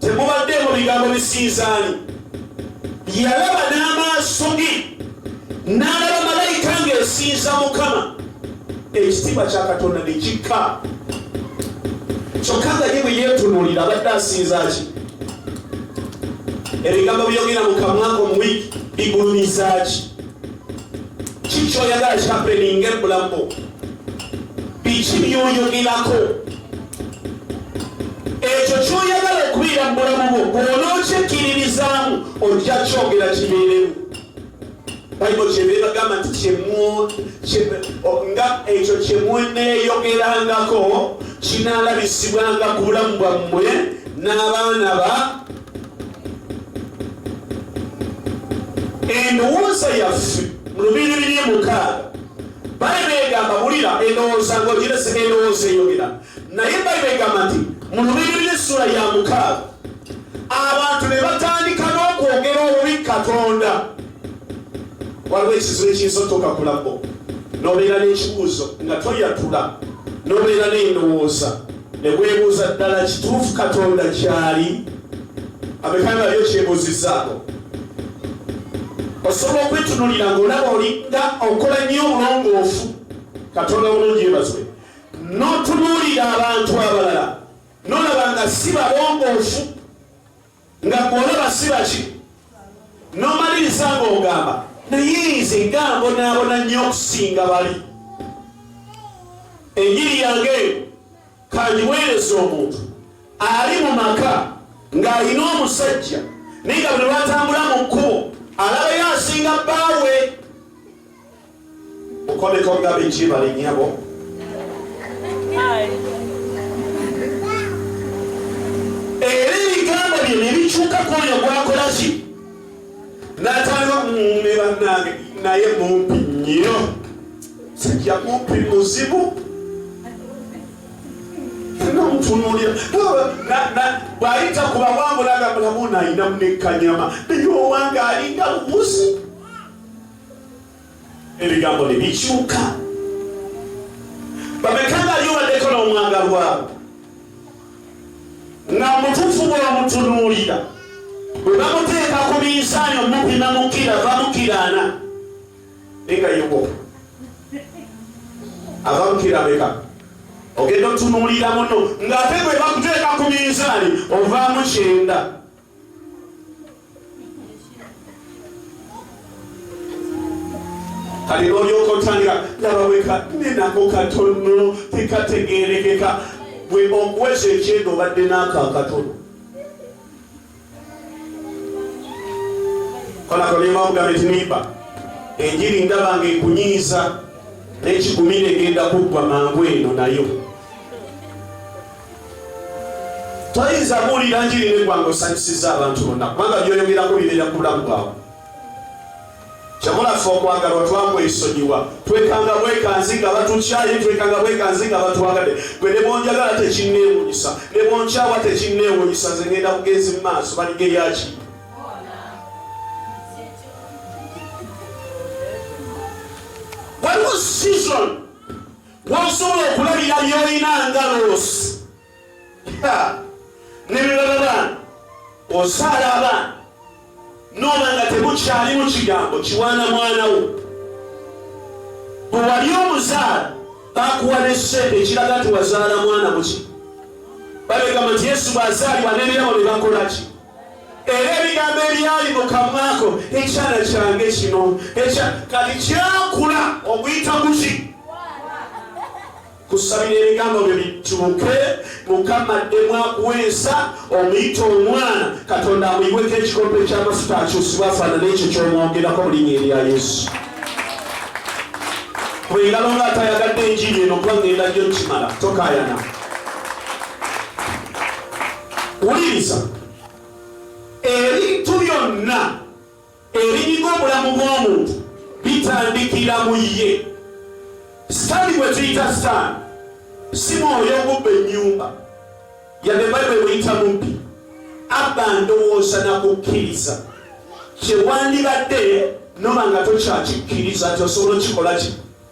temubaddeemu bigambo bisinzaani yalaba n'amaaso ge n'alaba malayika ng'esinza mukama ekitiibwa kya katonda ne kikka kyokka nga ye bwe yeetunuulira abadde asinza ki ebigambo byogera mu kamwako mu wiiki bigulumiza ki kiki oyagala kikapeninga ebulamu biki byoyogerako ekyo kyoyagala okubeera mu bulamu bwo bwonookyekkiririzaamu ojja kyogera kibeeremu bayibuli kyebeebagamba nti nga ekyo kyemweneeyogerangako kinaalabisibwanga ku bulamu bwammwe n'abaana ba endowooza yaffe mu lubiiri biri mukaaga bayibuli egamba bulira endowooza ng'ogirese endowooza eyogera naye bayibuli egamba nti mu lubiiri biri essula ya mukaaga abantu ne batandika n'okwogera obubi katonda waliwo ekizibu ekiyinza otuuka ku labbo n'obeera n'ekibuuzo nga toyatula n'obeera n'endowooza Ne weebuuza, Ddala kituufu Katonda gy'ali? Abeka nga yo kyebuuzizzaako. Osobola okwetunuulira ng'olaba olinga okola nnyo obulongoofu, Katonda bulungi yeebazibwe, n'otunuulira abantu abalala n'olaba nga si balongoofu. nga gwolaba sibaki nomaliriza nga ogamba naye nze gambonaabona nnyo okusinga bali enjiri yange kanjiweereza omuntu ali mu maka ng'alina omusajja naye nga buli lwatambula mu kkubo alabayo asinga bbaawe Mukoleko nga biki balinyabo. Era ebigambo bye ne bikyuka ku oyo gwakola ki n'atandika ne bannange naye mumpi nnyo sijja mumpi muzibu nomutunuulira bw'ayita ku bawangula nga mulamu naayina munekkanyama naye owange alinga lubuzi ebigambo ne bikyuka. Bameka nga ali obaddeko n'omwagalwa nga mutuufu bw'omutunuulira bwe bamuteeka ku minsaani omupima mukira bamukiraana naye nga yeko ava mukira meka ogenda otunuulira muno ng'ate bwe bakuteeka ku minsaani ovaamu kyenda kale olyoka otandika laba weka nenako katono tekategerekeka gwe okweza ekyenda obadde naako akatono kolakolemawugabe tiniba enjiri ndaba nga ekunyiiza nekigumire egenda kuggwa mangu eno nayo toyinza kuwulira njiri negwanga osanyusiza abantu bonna kubanga byoyogerako bibeera ku bulamu bwawe kyamulaffe okwagalwa twakwesonyiwa twekanga bwekanzi nga batukyaye twekanga bwekanzi nga batwagadde gwe nebonjagala tekinneewunyisa nebonkyawa tekinneewunyisa nze ngenda bugenzi mu maaso baligeyaki waliwo season Wosobola okulabira byolina nga loosi nebirala baana osaala abaana nooba nga temukyalimu kigambo kiwaana mwana wo bwewali omuzaala bakuwa nesente ekiraga nti wazaala mwana muki babegamba nti yesu bwazaalibwa nebirabo nebakolaki era ebigambo ebyali mu kamwako ekyana kyange kino kati kyakula okuyita kuki kusabira ebigambo bye bituuke mukama ddemu akuwa ensa omuyita omwana katonda amuyiweko ekikopo ekyamafuta akyusibwa afaanana ekyo kyomwogerako mulinya erya yesu bwengalo nga atayagadde enjiri eno kuba ngenda gyo kimala tokayana wuliriza ebintu byonna ebinyiga obulamu bw'omuntu bitandikira mu ye sitaani gwe tuyita sitaani si mwoyo ogubba ennyumba yadde bayibuli buyita mubbi abba ndowooza nakukkiriza kyewandibadde noba nga tokyakikkiriza nti osobola okikola kino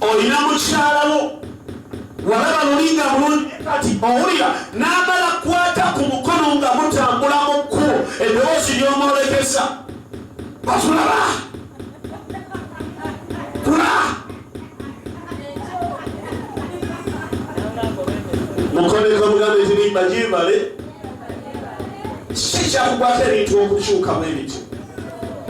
olina mukyalawo walaba luli nga bulungi kati owulira n'amala kwata ku mukono nga mutambula mu kkubo eddoboozi ly'omwolekesa batulaba kula mukoneko mugambe nti nimba gyebale si kyakukwata ebintu okukyukamu ebityo